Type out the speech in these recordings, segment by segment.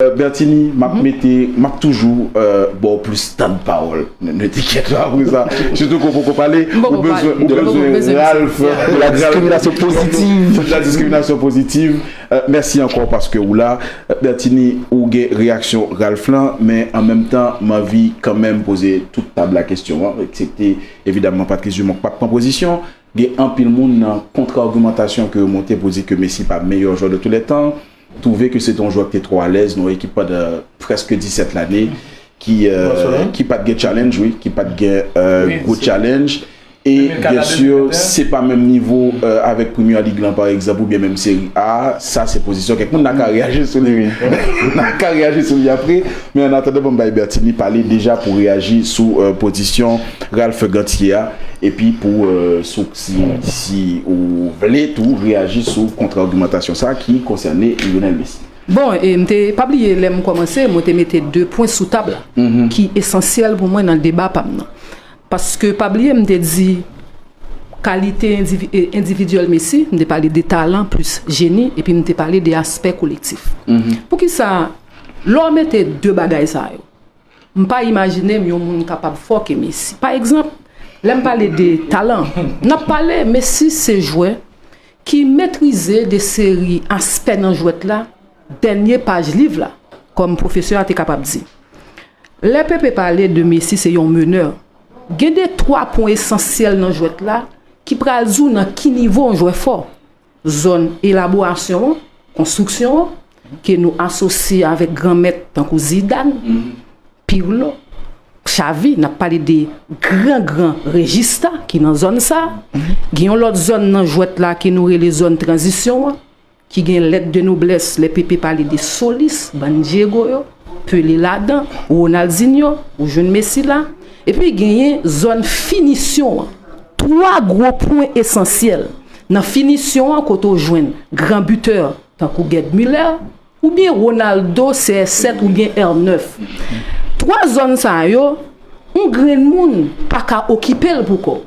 Bertini map mete map toujou baw plis tann pawol nèt tiket la apre sa sitou ke w poko pale ou bezwen ou bezwen Ralph de la diskriminasyon pozitiv de la diskriminasyon pozitiv mèsi ankò paske ou la Bertini ou gen reyaksyon Ralph lan men an menm tan m anvi kanmenm poze tout tab la kesyon an eksepte evidaman Patrice Dumont k pap pran pozisyon gen anpil moun nan kontra agimantasyon ke yo monte pou di ke Messi pa meyè jwè de tou lè tan. Twouve ke se te yon jwè ki te twò alèz nan yon ekip pandan prèske 17 lane ki pa t gen challenge wi, ki pa t gen gwo challenge. E byen si se pa menm nivo avèk Premier League lan pa egzanp oubyen menm Serie A, sa se pozisyon kèk moun. N a ka reyaji sou li wi. N a ka reyaji sou li apre. Men an atandan banm bay Bertinie pale deja pou reyaji sou pozisyon Ralph Ganthier a epi pou Si ou vle tou reyaji sou kontra-agimantasyon sa ki konsène Lionel Messi. Bon, e m te, pa bliye lè m kòmanse, mwen te mete 2 pwen sou tab la ki esansyèl pou mwen nan deba pa m nan. Paske pa bliye m te di kalite endividyèl Messi, m te pale de talan plis jeni epi m te pale de aspè kolektif. Poukisa lè w mete 2 bagay sa yo, M pa imajine m yon moun kapab fò ke Messi. Pa egzanp, lè m pale de talan, n ap pale Messi se jwè ki metrize de seri aspè nan jwèt la, dènye paj liv la, kòm pwofesè a te kapab di. Lè Pepe pale de Messi se yon menè, gen de twa pwen esansyèl nan jwèt la ki pral di w nan ki nivo yon jwè fò. Zòn elaborasyon an, konstriksyon an, ke nou asosye avèk gran mèt tankou Zidan, Pirlo, Xavi, n ap pale de gran gran rejista ki nan zòn sa. Gen yon lòt zòn nan jwèt la ke nou rele zòn tranzisyon an, ki gen lèt de noblès lè Pepe pale de solis, bann Dyego yo. Pelé ladan, Ronaldinho, ou jwenn Messi la, epi genyen zòn finisyon an. Twa gwo pwen esansyèl nan finisyon an kote w jwenn gran bitè tankou Gerd Müller oubyen Ronaldo CR7 oubyen R9. Twa zòn sa yo, yon grenn moun pa ka okipe l pou kò w.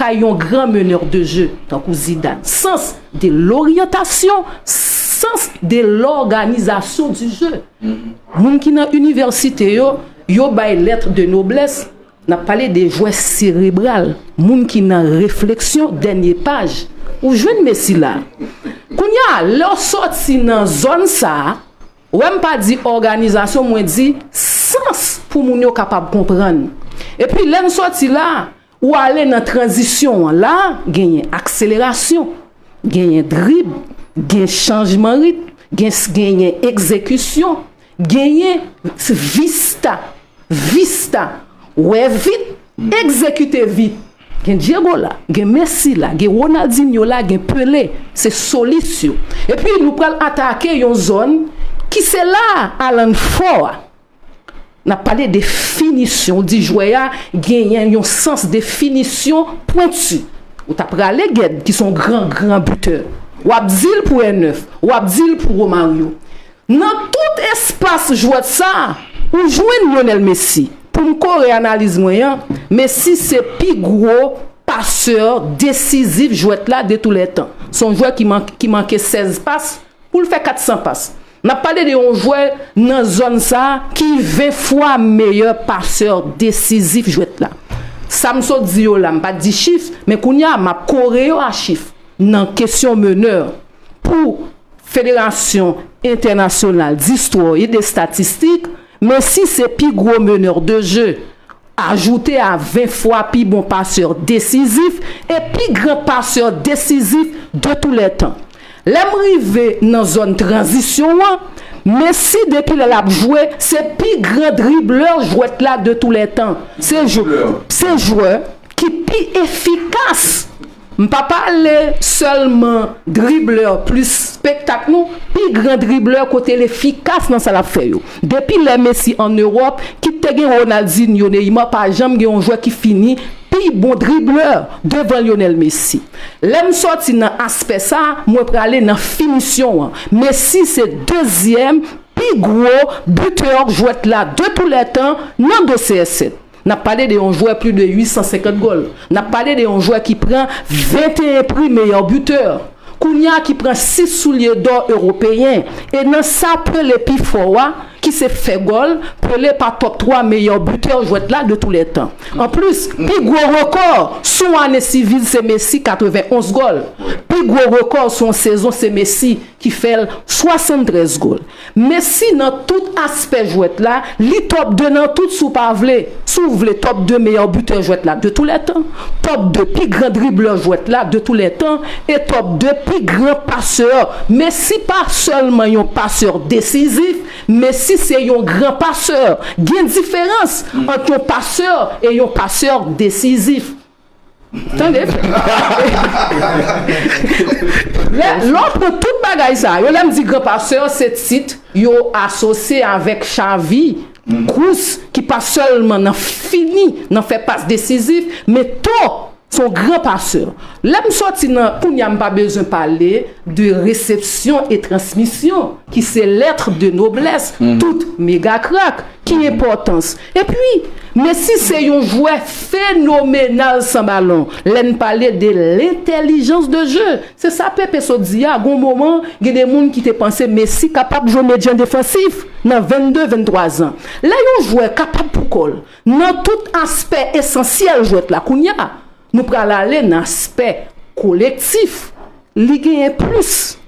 kay yon gran meneur de jeu tankou Zidane. Sans de l'orientation, sans de l'organisation du jeu. Moun ki nan université yo, yo bay lettre de noblesse, nap pale de jwè serebral, moun ki nan refleksyon dènye paj. Ou jwenn Messi la. Kounya a, lè w sòti nan zòn sa a, wè m pa di òganizasyon, mwen di sans pou moun yo kapab konprann. Epi lè n sòti la a, Ou ale nan tranzisyon an, la a, genyen akselerasyon, genyen drib, gen chanjman ritm, gen genyen egzekisyon, genyen vista, vista, wè vit, egzekite vit. Gen Diego la, gen Messi la, gen Ronaldinho la, gen Pelé, se solis yo. Epi nou pral atake yon zòn ki se la a Alan fò a. N ap pale de finisyon. Ou di jwè a genyen yon sans de finisyon pwenti. Ou ta prale Ged ki se yon gran gran bitè. W ap di l pou Erneuth. W ap di l pou Romario. Nan tout espas jwèt sa a, ou jwenn Lionel Messi. Pou m kore analiz mwen an, Messi se pi gwo pasè desizif jwèt la de tou lè tan. Se yon jwè ki manke 16 pas. pou l fè 400 pas. N ap pale de yon jwè nan zòn sa a ki 20 fwa meyè pasè desizif jwèt la. Sa m sot di yo la, m pa t di chif, men kounye a m ap kore yo a chif nan kesyon menè pou Federasyon entènasyonal distro e destatistik, Messi se pi gwo menè de je. Ajoute a 20 fwa pi bon pasè desizif e pi gran pasè desizif de tou lè tan. Lè m rive nan zòn tranzisyon an, Messi depi lè l ap jwe se pi gran driblè jwèt la de tou lè tan. Se jwè ki pi efikas. M pa pale sèlman dribbler plis spektak nou pi gran dribbler kote l efikas nan sa l ap fè yo. Depi lè Messi an Ewòp, kit te gen Ronaldinho, Neymar pa janm gen yon jwè ki fini pi bon dribbler devan Lionel Messi. Lè m sòti nan aspè sa, mwen prale nan finisyon an. Messi se dezyèm pi gwo buteur jwèt la de tou lè tan nan do CR7. N ap pale de yon jwè pli de 850 gòl. N ap pale de yon jwè ki pran 21 pri meyè bitè kounye a, ki pran 6 soulye dò ewopeyen. E nan sa Pele pi fò a, ki se fè gòl, Pele pa tòp 3 meyè bitè jwèt la de tou lè tan. Anplis, pi gwo rekò sou yon ane sivil se Messi, 91 gòl. Pi gwo rekò sou yon sezon se Messi. ki fè l 73 gol. Messi nan tout aspè jwèt la, li top 2 nan tout si w pa vle. Si w vle top 2 meyè bitè jwèt la de tou lè tan, top 2 pi gran driblè jwèt la de tou lè tan e top 2 pi gran pasè. Messi pa sèlman yon pasè desizif, Messi se yon gran pasè. Gen diferans ant yon pasè e yon pasè desizif. Tande! Lè, lè w pran tout bagay sa yo, lè m di gran pasteur se tit yo asosye avèk chavi, kous ki pa sèlman nan fini, nan fè pas desizif, men to s on gran pasè. Lè m soti nan, kounye a m pa bezwen pale de resepsyon e transmisyon ki se lettre de noblesse tout mega krak. Ki enpòtans? Epi, Messi se yon jwè fenomenal san balon, lè n pale de lentèlijans de je. Se sa Pepe sot di a, gon moman, gen de moun ki te panse Messi kapab jwe medyan defansif nan 22, 23 zan. Lè yon jwè kapab pou kò l, nan tout aspè esansyèl jwèt la, kounya, nou pral ale nan aspè kolektif, li genyen plis.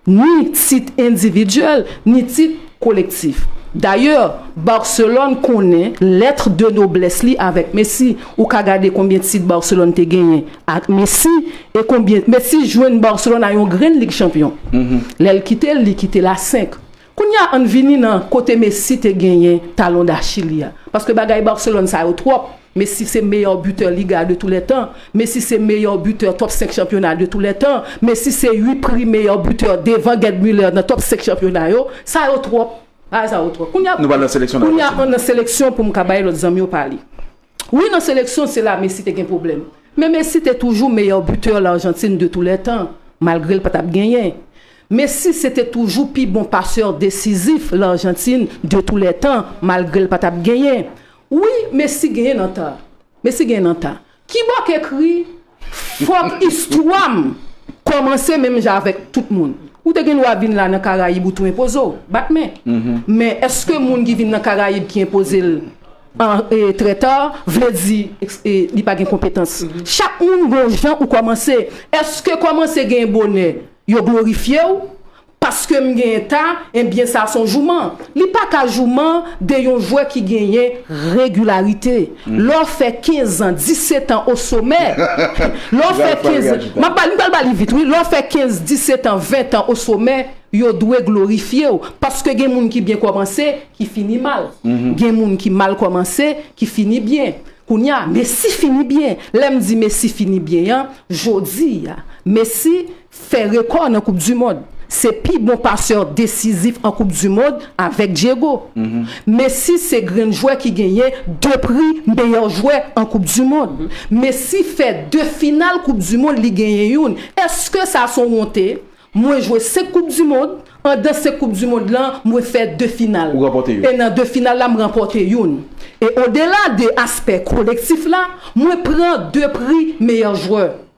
ni tit endividyèl ni tit kolektif. Dayè, Barcelone konnen lettre de noblesse li avèk Messi. Ou ka gade konbyen tit Barcelone te genyen ak Messi e konbyen Messi jwenn Barcelone a yon grenn Lig Chanpyon. Lè l kite l, li kite l a 5. Kounya ann vini nan kote Messi te genyen talon dachil li a. Paske bagay Barcelone sa yo twòp. Messi se meyè butè Liga de tou lè tan. Messi se meyè butè top 5 chanpyona de tou lè tan. Messi se ui pri meyè butè devan Gerd Muller nan top 5 chanpyona yo. Sa yo twòp. Bagay sa yo twòp. Kounya Nou pral nan seleksyon nan Kounya Barcelone. ann nan seleksyon pou m ka bay lòt zanmi yo pale. Wi nan seleksyon se la Messi te gen pwoblèm. Men Messi te toujou meyè buteur Largentine de tous les temps, malgre l pa tap genyen. Messi se te toujou pi bon paseur desizif Largentine de tous les temps, malgre l pa tap genyen. Wi Messi genyen nan ta. Messi genyen nan ta. Kibò k ekri Fòk istwa m kòmanse menm jan avèk tout moun. Ou te gen dwa vin la nan Karayib ou tou enpoze w, bat men. Men èske moun ki vin nan Karayib ki enpoze l trè ta vle di li pa gen konpetans? Chak moun gen yon jan ou kòmanse. Èske kòmanse gen bonè yo glorifye w? Paske m genyen ta, enbyen sa son jouman. Li pa ka jouman de yon jwè ki genyen regilarite. Lè w fè 15 an, 17 an o somè, lè w fè 15, m ap ba li, m pral ba li vit wi, lè w fè 15, 17 an, 20 an o somè, yo dwe glorifye w. Paske gen moun ki byen kòmanse, ki fini mal. Gen moun ki mal kòmanse, ki fini byen. Kounye a, Messi fini byen. Lè m di Messi fini byen an, jodi a, Messi fè rekò nan koup du mond se pi bon pasè desizif an koup du mond avèk Diego Messi se grenn jwè ki genyen 2 pri meyè jwè an koup du mond Messi fè 2 final koup du mond li genyen youn eske sa son wonte mwen jwe 5 koup du mond andan 5 koup du mond lan mwen fè 2 final e nan 2 final la m ranpòte youn e odela de aspè kolektif la mwen pran 2 pri meyè jwè.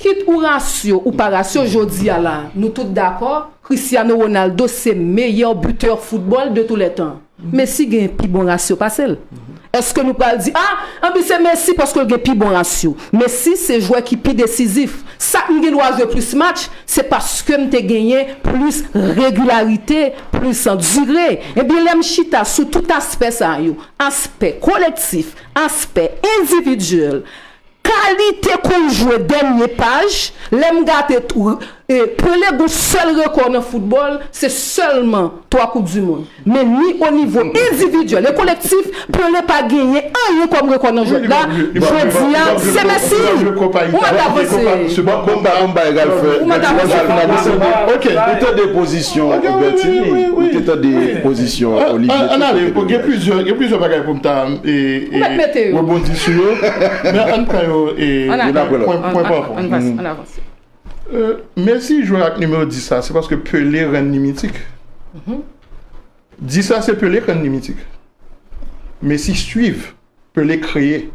Kit ou rasyo ou pa rasyo jodi a la nou tout dakò Cristiano Ronaldo se meyè butè foutbòl de tou lè tan. Messi gen pi bon rasyo pase l. Eske nou pral di a anpi se Messi paske l gen pi bon rasyo. Messi se jwè ki pi desizif. Sak m gen dwa jwe plis match se paske m te genyen plis regilarite, plis dire. Ebyen lè m chita sou tout aspè sa yo, aspè kolektif, aspè endividyèl, Kalite kou jwe dènye paj, lè m gate tou. Pele gon sèl rekò nan foutbòl, se sèlman 3 koup du mond. Men ni o nivo endividyèl e kolektif, Pele pa genyen anyen kòm rekò nan jwèt la, jodi a se Messi! Ou mande avanse! Bon pa bon bay egal fè. Ou mande avanse! Ok, ou tande pozisyon Bertinie, ou te tande pozisyon Olivier. An ale, gen plizyè bagay pou m ta. Ou mèt mete yo. Rebondi sou yo. Men ann pran yo pwen pa pwen. Messi jwe ak nimewo 10 la se paske Pele rann li mitik. 10 la se Pele k rann li mitik. Messi swiv, Pele kreye.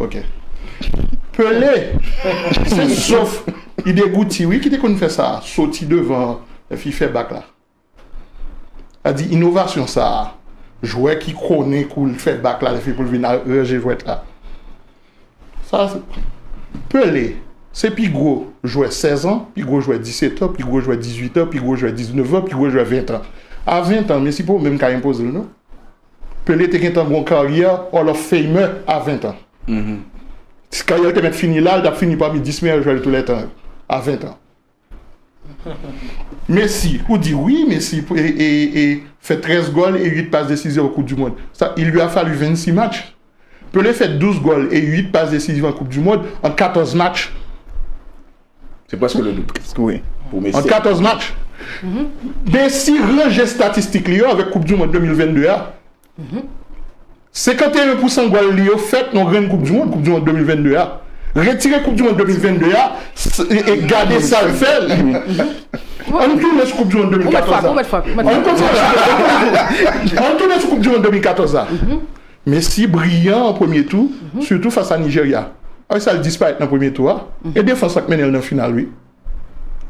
Ok. Pele se sof Idegouti wi ki te konn fè sa a, soti devan an epi fè bak la. Sa di inovasyon sa a, jwè ki konnen kou l fè bak la epi pou l vin ranje jwèt la. Sa se Pele, se pi gwo jwè 16 an, pi gwo jwè 17 an, pi gwo jwè 18 an, pi gwo jwè 19 an, pi gwo jwè 20 an. A 20 an, mesi pa w menm ka enpoze l non. Pele te gentan gen yon karyè Hall of Famer a 20 an. Si karyè l te mèt fini la, li t ap fini pami 10 meyè jwè tou lè tan yo, a 20 an. Messi ou di wi Messi fè 13 gòl e 8 pas desizyon an koup du mond sa il lui a fallu 26 match Pelé fè 12 gòl e 8 pas desizyon an koup du mond an 14 match Se prèske le double pou Messi an 14 match Messi ranje statistik li yo avèk koup du mond 2022 a. 51 pousan gòl li yo fèt nan grenn koup dimond, koup dimond 2022 a. Retire koup dimond 2022 a e gade sa l fè. Ann tounen sou koup dimond 2014 la. Ann kontinye sou koup dimond 2014 la. Ann tounen sou koup dimond 2014 la. Messi briyan an premye tou, sitou fas a Nijerya. Wè sa l disparèt nan premye tou a. E defans la k mennen l nan final wi.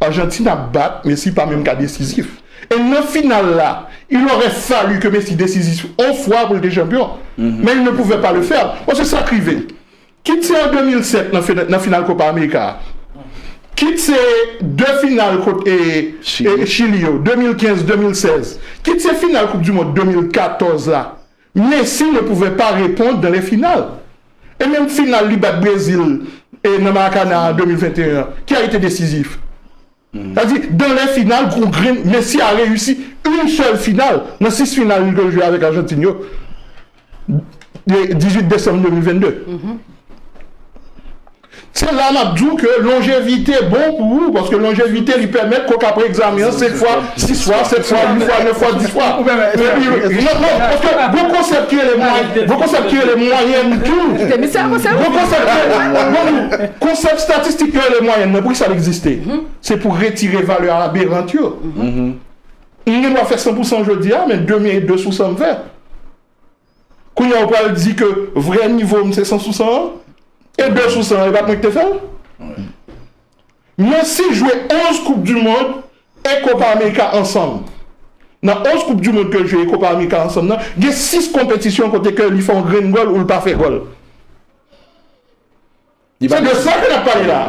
Argentine ap bat Messi pa menm ka desizif e nan final la il aurait fallu ke Messi desizif on fwa pou l te chanpyon men il ne pouvait pas le faire paske sa k rive kit se an 2007 nan final Copa America a kit se 2 final kont Chili yo 2015 2016 kit se final koup du mond 2014 la Messi ne pouvè pa repond dan lè final e menm final li bat Brezil e nan Maracana an 2021 an ki a ete desizif sa di dan lè final gon grenn Messi a reyisi yn sèl final nan 6 final li te jwe avèk Arjantin yo 18 desanm 2022. Se la nap di w ke longevite bon pou ou paske longevite li pèmèt ke w ka pre-egzamen an 5 fwa, 6 fwa, 7 fwa, 8 fwa, 9 fwa, 10 fwa. Epi non non paske gon konsèp ki rele mwayèn, gon konsèp ki rele mwayèn tou. Gon konsèp ki rele mwayèn tou. Konsèp statistik yo rele mwayèn nan pou kisa l egziste? Se pou retire valè aberant yo. M gen dwa fè 100 pousan jodi a men demen e 2 sou 100 m fè. Kounya ou pral di ke vrè nivo m se 100 sou 100 an? E 2 sou 100 an e pat mwen ki te fè l? Messi jwe 11 koup du mond e kopa amerika ansanm. Nan 11 koup du mond ke l jwe e kopa amerika ansanm nan, gen 6 konpetisyon kote ke li fè yon grenn gòl ou l pa fè gòl. Se de sa ke nap pale la a.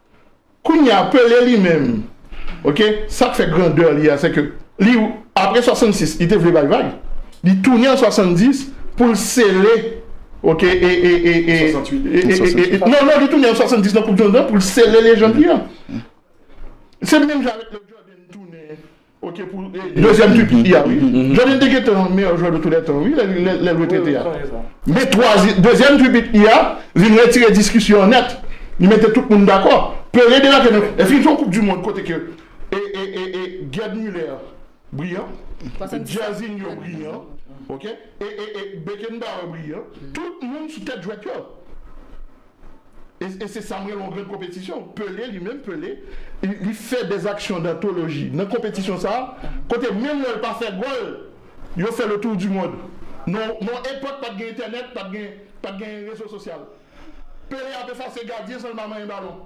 Kounya Pelé li menm ok sak fè grandeur li a se ke li apre 66 li te vle bay vag li tounen an 70 poul sele ok e e e e e e e non non li tounen an 70 nan koup du monde lan poul sele lejand li an se menm jan avèk lè Jordan tounen. Dezyèm twi pou Iya wi. Johnny te gentan meyè jwè de tou lè tan wi lèl retrete a. Men dezyèm twi pou Iya vin retire diskisyon an nèt. Li mete tout moun dakò. Pelé debake nan Eske se yon koup du mond kote ke Gerd Muller briyan, Jairzinho briyan, Beckenbauer briyan, tout moun sou tèt jwèt yo. e se sa m rele yon gran konpetisyon. Pele, li menm Pele, li fè dè aksyon dantoloji nan konpetisyon sa a, kote menm lè l pa fè gòl, yo fè letour du monde. Non, non epòk pa t gen entènèt, pa t gen, pa t gen rezo sosyal. Pele ap efase gadyen san l pa manyen balon.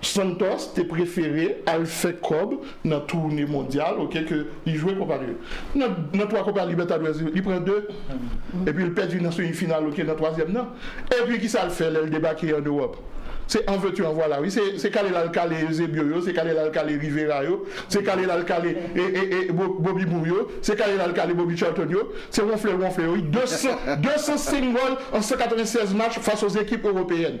Santos te prefere al fè kòb nan toune mondyal ok ke li jwe kopa li nan nan 3 kopa libètadwèz li pran 2 epi li pèdi nan semi final ok nan twazyèm nan epi kisa li fè lè li debake an ewòp se an vètu an vwala wi se se kale lal kale Eusebio yo se kale lal kale Rivera yo se kale lal kale e e e bo Bobby Moore yo se kale lal kale Bobby Charlton yo se wonfle l wonfle yo wi 200 205 gòl an 196 match fas o zekip ewopeyèn.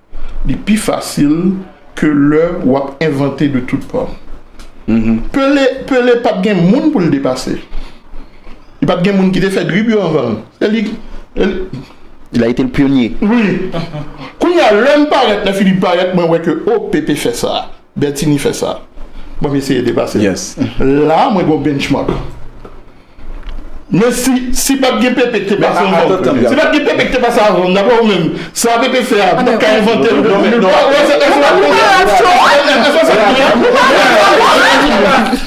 Li pi fasil ke lè w ap envante de tout pò. Pele, Pele pa t gen moun pou l depase. Li pa t gen moun ki te fè drib yo anvan l. Se li, e li. Il a été le pionnier. Wi. Kounye a, lè m parèt, lè Philippe parèt, mwen wè ke, o, Pepe fè sa. Bertinie fè sa. Bon m eseye depase l. La a mwen gen yon benchmark. Men si, si pat gen Pepe ki te pase anvan m. Atanm, atanm. Si pat gen Pepe ki te pase avan m, dapre ou menm, sa Pepe fè a, nou ka envante l depi 2003? Ou pa rèv tou? Èske w pa rèv tou? Èske w pa rèv tou?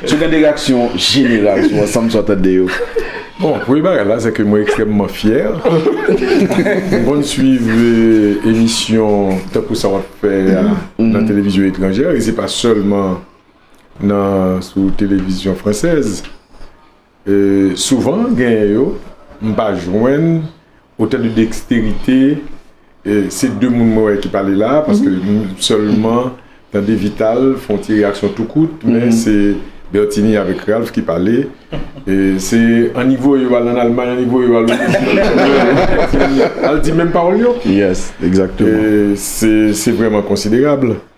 Sou gen de reaksyon jeneral sou ansanm sa w tande yo? Bon, premye bagay la se ke mwen ekstrèmman fyè. Mwen konn swiv emisyon tankou sa w ap fè a nan televizyon etranjè e se pa sèlman nan sou televizyon fransèz. Souvan genyen yo m pa jwenn otè de deksterite se 2 moun mwen wè ki pale la paske m sèlman tande vital fon ti reyaksyon tou kout men se Bertinie avèk Ralph ki pale se anivo yo al an almay anivo yo al al di menm pawòl yo se vrèman konsiderab.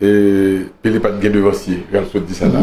E pele pat gen devansye, gal sot di sa la.